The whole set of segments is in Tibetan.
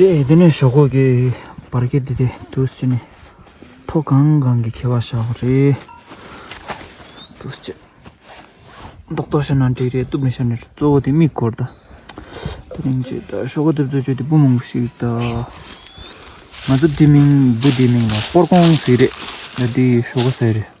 དེ་དེ་ནས་ཞོག་གོ་གེ་བར་གེ་དེ་དེ་དུ་སུ་ནི་ཐོ་གང་གང་གི་ཁེ་བ་ཞག་གོ་རེ་དུ་སུ་ཅི་རྡོག་རྡོག་ཤ་ནང་དྲེག་རེ་དུ་མི་ཤ་ནི་རུ་ཙོ་གོ་དེ་མིག་གོར་ད་དེ་རིང་ཅི་ད་ཞོག་གོ་དེ་དུ་ཅོ་དེ་བུ་མང་པོ་ཞིག་ད་ང་ཚོ་དེ་མིང་བུ་དེ་མིང་ལ་པོར་གོང་ཟེ་རེད་ད་དེ་ཞོག་གོ་ཟེ་རེད་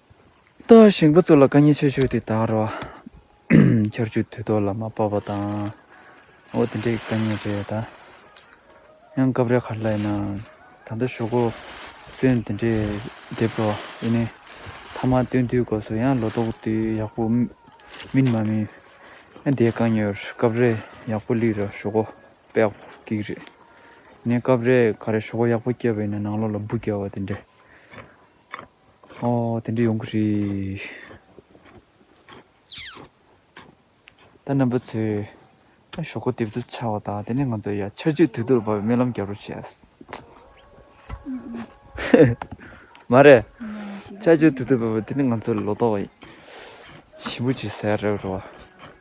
ལྟ་བ་བཞེངས་པ་ཚོ་ལ་བཀའ་ཉན་ཆོས་ཞུ་དེ་དང་རོ། ཆར་ཆུ་དུས་ཐོག་ལ་མ་སྤར་བ་དང། འོ་དེ་འདྲའི་བཀའ་ཉན་རེད་ད། ཡང་སྐབས་རེ་གར་ལ་ཡིན་ནའང་ད་ལྟ་ཞོག་གོ། གསོན་དེ་འདྲས་འདེབས་རོགས་ཨེ་ནས། ཐ་མག་སྟོན་དུས་སྐབས་སུ་ཡང་ལོ་ཏོག་དུས་ཡག་པོ། མིན་མ་མིན། ཡང་དེའི་བཀའ་ཉན་རེད་སྐབས་རེ་ཡག་པོ་ལི་ར་ཞོག་གོ་པེག་གིག་རེད། ནས་སྐབས་རེ་ག་རེ་ཞོག་གོ་ཡག་པོ་སྐྱེ་བ་ཡིན་ན་ནང་ལོག་ལ་སྦུ་སྐྱེ་བ་དེ་འདྲས། ཨོ། དེ་འདྲ་ཡོང་གི་རེད། ད་ནང་པ་ཚོས་ཞོག་ཁོག་ལྟེབ་ཚུལ་འཆའ་བ་དང་དེ་ནས་ང་ཚོ་ཡར་ཆར་ཆུ་དུས་དུར་བབས་པའི་རྨི་ལམ་བརྒྱབ་རོགས་བྱས། མ་རེད། ཆར་ཆུ་དུས་དུར་བབས་པ་དེ་ནི་ང་ཚོ་ལོ་ཏོག་ཞིམ་པོ་བྱེད་སའི་རེད་རོ།